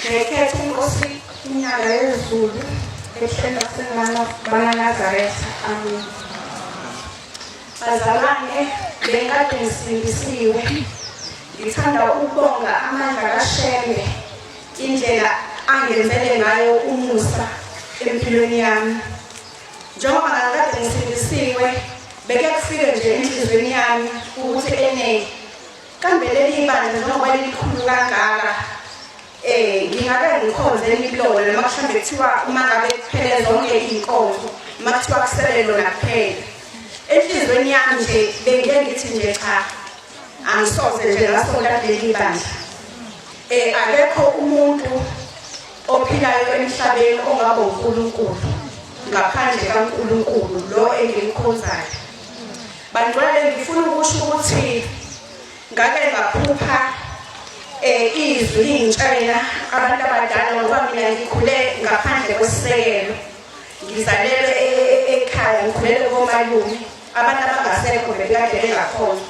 Ngekhetha inkosi inyanga yezulu ehleni lasenanazaretha amina bazalwane bengikade ngisindisiwe ngithanda ukubonga amandla kashembe indlela angenzele ngayo umusa empilweni yami njengoba ngakade ngisindisiwe beke kufike nje enhliziyweni yami ukuthi enene Kambe leli bandla njengoba lilikhulu kangaka eh ngingabe ngikhonze imilomo noma mhlawumbe kuthiwa uma ngabe kuphele zonke iy'nkonzo uma kuthiwa kusele lona kuphela enhliziyweni yami nje bengiye ngithi nje cha angisoze nje ngasonta kuleli bandla eh akekho umuntu ophilayo emhlabeni ongaba uNkulunkulu ngaphandle kaNkulunkulu lo engimkhonzayo Bangcwele ngifuna ukusho ukuthi ngake ngaphupha eh izwi lingitshela abantu abadala ngoba mina ngikhule ngaphandle kwesisekelo ngizalelwe e, e, e, ekhaya ngikhulele komalume abantu abangasekho bebekade bengakhona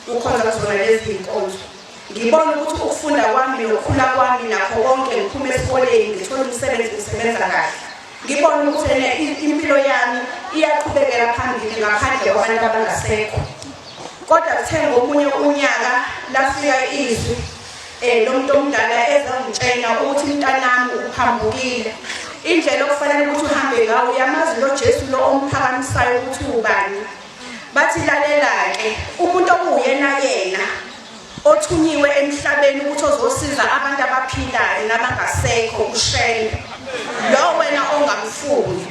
ukhona kuzona lezi zinkonzo Ngibona ukuthi ukufunda kwami nokukhula kwami nakho konke ngiphuma esikoleni ngithola umsebenzi ngisebenza kahle. Ngibona ukuthi ene impilo yami iyaqhubekela phambili ngaphandle kwabantu abangasekho. Kodwa kuthe ngomunye unyaka lafika izwi eh lomuntu omdala ezongitshena ukuthi mntanami uphambukile. Indlela okufanele ukuthi uhambe ngayo uyamazi lo Jesu lo omphakamisayo ukuthi ubani. bathi lalela-ke umuntu okuwuyena yena othunyiwe emhlabeni ukuthi ozosiza abantu abaphilayo nabangasekho ushembe lo wena ongamfuni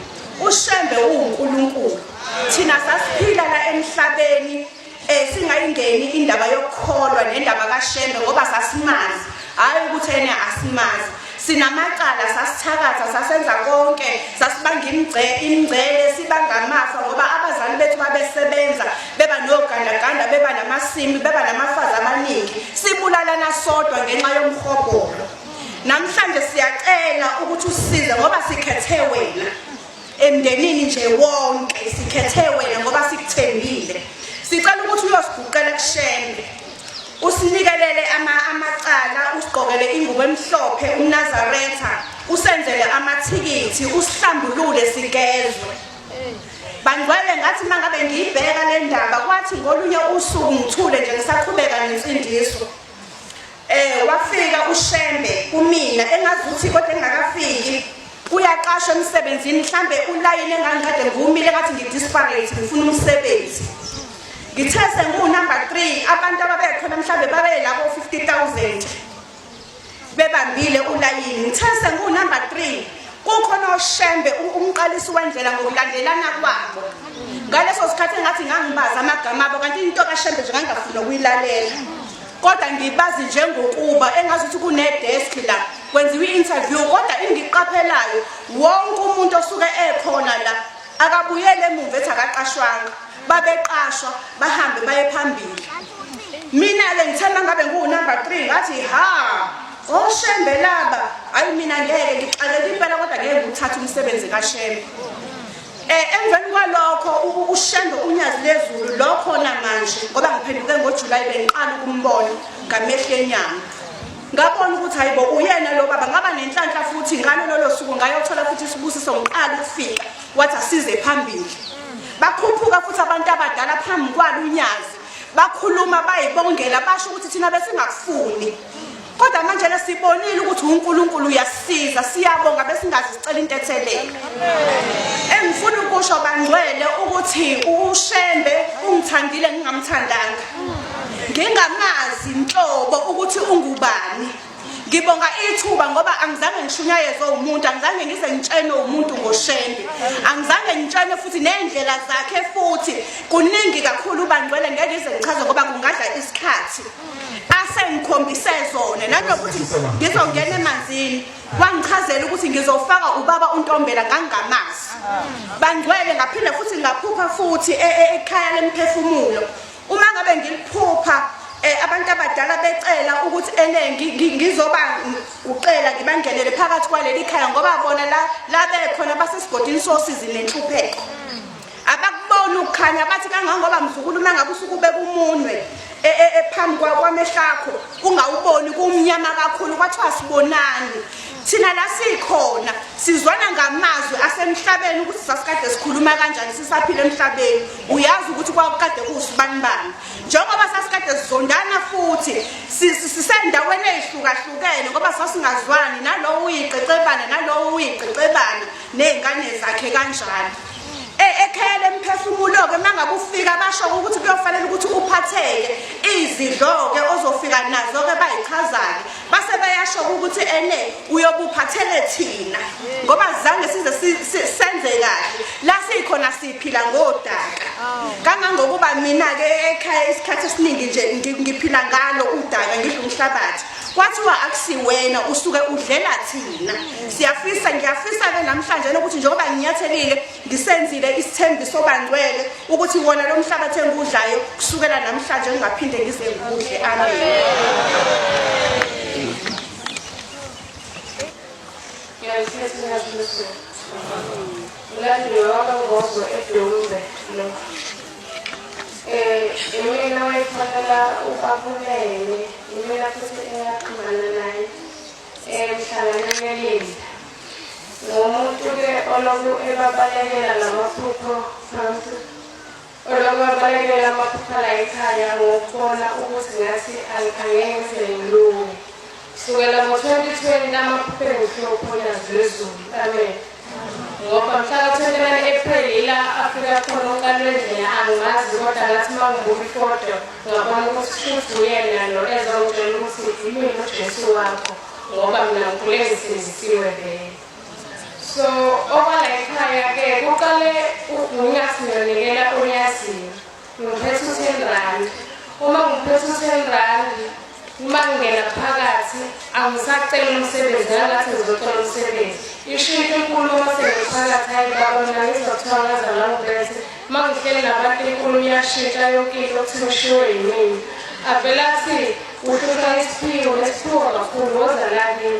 ushembe uwunkulunkulu thina sasiphila la emhlabeni um singayingeni indaba yokukholwa nendaba kashembe ngoba sasimazi hhayi ukuthi ena asimazi sinamacala sasithakatha sasenza konke sasibanga imingcele sibanga amafa ngoba abazali bethu babesebenza beba nogandaganda beba namasimi beba namafazi amaningi sibulalana sodwa ngenxa yomhobholo namhlanje siyacela ukuthi usize ngoba sikhethe wena emndenini nje wonke sikhethe wena ngoba sikuthembile sicela ukuthi uyosiguqela kushembe usinikelele ama amacala usigqokele ingubo emhlophe umnazaretha usenzele amathikithi usihlambulule sigezwe bangcwele ngathi uma ngabe ngiyibheka le ndaba kwathi ngolunye usuku ngithule nje ngisaqhubeka nensindiso Eh wafika uShembe kumina engazuthi kodwa engakafiki uyaqashwa emsebenzini mhlambe ulayini engangiqede ngumile ngathi ngidisparate ngifuna umsebenzi ngithe sengunumber 3 abantu ababekhona mhlambe babelabo 50000 bebambile ulayini ngithe sengunumber 3 kukhona oshembe umqalisi wendlela ngokulandelana kwabo ngaleso sikhathi engathi ngangibaza amagama abo kanti into kashembe nje ngangingafuna ukuyilalela kodwa ngibazi njengokuba engazi ukuthi kunedesk la kwenziwa i-interview kodwa engiqaphelayo wonke umuntu osuke ekhona la akabuyele emuva ethi akaqashwanga babeqashwa bahambe baye phambili mina-ke ngithanda ngabe ngiwunumber three ngathi ha oshembe laba hhayi mina ngeke ngixakele impela kodwa ngeke ngiwuthathe umsebenzi kashembe Eh, emveni kwalokho ushembe unyazi lezulu lokho namanje ngoba ngiphenduke ngojulayi bengiqala ukumbona ngamehlo enyama ngabona ukuthi hayibo uyena lo baba ngaba nenhlanhla futhi ngalo lolo suku ngayothola futhi isibusiso ngiqala ukufika wathi asize phambili bakhuphuka futhi abantu abadala phambi kwalo unyazi bakhuluma bayibongela basho ukuthi thina besingakufuni kodwa manje le sibonile ukuthi uNkulunkulu uyasiza siyabonga besingazi sicela into ethelele engifuna ukusho bangcwele ukuthi uShembe ungithandile ngingamthandanga ngingamazi inhlobo ukuthi ungubani ngibonga ithuba ngoba angizange ngishunyayezwe umuntu angizange ngize ngitshenwe umuntu ngoshende angizange ngitshenwe futhi nendlela zakhe futhi kuningi kakhulu ubangcwele ngeke ngize ngichaze ngoba kungadla isikhathi asengikhombise zona nanokuthi ngizongena emanzini wangichazela ukuthi ngizofaka ubaba untombela ngangingamazi bangcwele ngaphinde futhi ngaphupha futhi e, e, ekhaya lemphefumulo uma ngabe ngiliphupha eh abantu abadala becela ukuthi ene ngizoba ucela ngibangenele phakathi kwaleli khaya ngoba bona la la bekhona basesigodini sosizi nenhlupheko abakuboni ukukhanya bathi kangangoba mzukulu nangabe usuke ubeka umunwe e, e, e, phambi kwamehlakho ungawuboni kumnyama kakhulu kwathiwa sibonani thina la sikhona sizwana ngamazwi asemhlabeni ukuthi sasikade sikhuluma kanjani sisaphila emhlabeni uyazi ukuthi kwakukade kuwusibanibani njengoba sasikade sizondana futhi sisendaweni eyihlukahlukene ngoba sasingazwani nalowo uyiqeqebane nalowo uyiqeqebane ney'ngane zakhe kanjalo E, ekhaya lemphefumulo-ke uma ngabe ufika basho ukuthi kuyofanele ukuthi uphatheke izidlo-ke ozofika nazo-ke bayichazake base beyasho ukuthi ene uyobuphathele thina ngoba zange size senze kahle la sikhona siphila ngodaka kangangokuba mina-ke ekhaya isikhathi esiningi nje ngiphila ngalo udaka ngidla umhlabathi kwathiwa akusiwena usuke udlela thina siyafisa ngiyafisa-ke namhlanje nokuthi njengoba nginyathelile ngisenzile isithembiso bangcwele ukuthi wona lo mhlabathi engiwudlayo kusukela namhlanje ngingaphinde ngize ngikudle amen Ngiyazithetha ngiyazithetha. Ulandile wabangozwa edolumbe lo. imina wayefonela ubabulele imina futhi engaxhumana naye emhlangana ngelinda ngomuntu-ke oloku ebabalekela lamaphupho phansi oloku abalekela amaphupho la ekhaya ngokubona ukuthi ngathi angeke ngize ngilunge Sukela ngo-2020 amaphupho engiphuphe uphonyas lwezulu amen ngoba mhla ka-29 april ila afika khona ukalwendlela angimazi kodwa ngathi uma ngibuka ifoto ngabona ukuthi shuthi uyena lo ezongitshela ukuthi imini ujesu wakho ngoba mina ngikhule ngisindisiwe vele so okwala ekhaya-ke kuqale unyasinonekela unyaziwe Ngiphethe u-ten rand uma ngiphethe u-ten rand uma ngingena phakathi angisacela umsebenzi angathi ngizocela umsebenzi isho into enkulu uma sengiphakathi hayi baba mina ngizokuthiwa ngaza langibethe uma ngihleli nabantu inkulu iyashintsha yonke into okuthiwa ushiwo yimini avela athi uhlutha isiphiwo nesiphiwo kakhulu woza lakini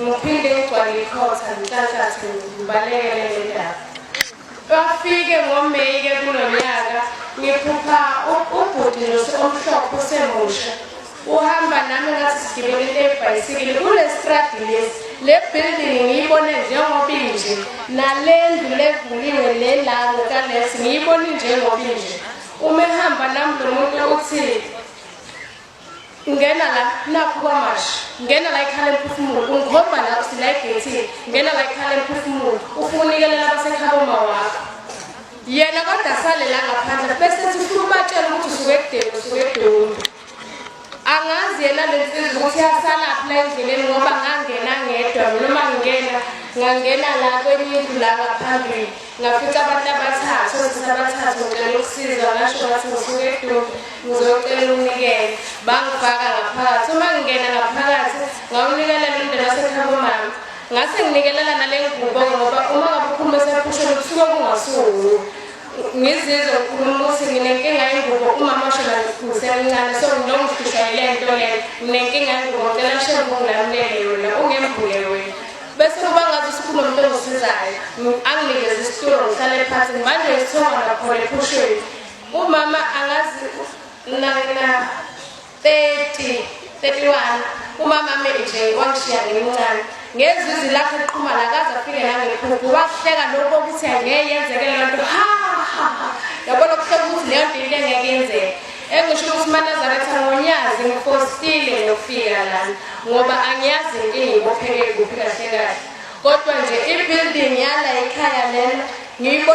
Ngiphinde ngigcwale ikhotha ngihlahlathi ngibalekele ngendaba. Bafike ngoMeyi ke kulo nyaka ngiphupha ubhuti nose omhlophe usemusha uhamba nami ngathi sigibele lebhayisikile kule stradi lesi le building ngiyibone njengoba inje nale ndlu levuliwe le la ngokalesi ngiyibone njengoba inje uma ehamba nami lo muntu uthi ngena la nakho kwamashi ngena la ikhala emphefumulo ungikhomba la usila egethini ngena la ikhala emphefumulo ufuna unikelela abasekhaba uma wakho yena kodwa sale la ngaphandle bese ethi ufuna ubatshela ukuthi usuke ekudeni usuke edoni angazi yena le nsizwa ukuthi yasalaphi la endleleni ngoba ngangena ngedwa noma ngingena ngangena la kwenye indlu la ngaphambili ngafica abantu abathathu othisha abathathu ngicela ukusizwa ngasho ngathi ngisuke edumbe ngizocela umnikele bangifaka ngaphakathi uma ngingena ngaphakathi ngawunikelela umndeni wasekhabo mama ngase nginikelela nale ngubo ngoba uma ngabe ukhuluma esephusheni kusuke kungasuku ngizizwe ngikhuluma ukuthi nginenkinga yengubo umama washo ngisemncane so ngilongihlushayile nto le nginenkinga yengubo cela shembe ungilamulele yona ungembule wena bese kuba ngathi sikhona umuntu ongisizayo anginikeze isitulo ngihlale phansi manje ngisithonga nakhona ephushweni umama angazi nakena 30 31 umama ame nje wangishiya ngimncane ngezwe izwi lakhe liqhuma la kaze afike nangephupho wahleka lokho ukuthi angeke yenzeke leyo nto ha yabona kuhleka ukuthi leyo nto into engeke yenzeke Engisho ukuthi manazaretha ngonyazi ngifosile ngiyofika lana ngoba angiyazi inkinga ibopheke kuphi kahle kahle kodwa nje i-building yala ikhaya lena ngiyibona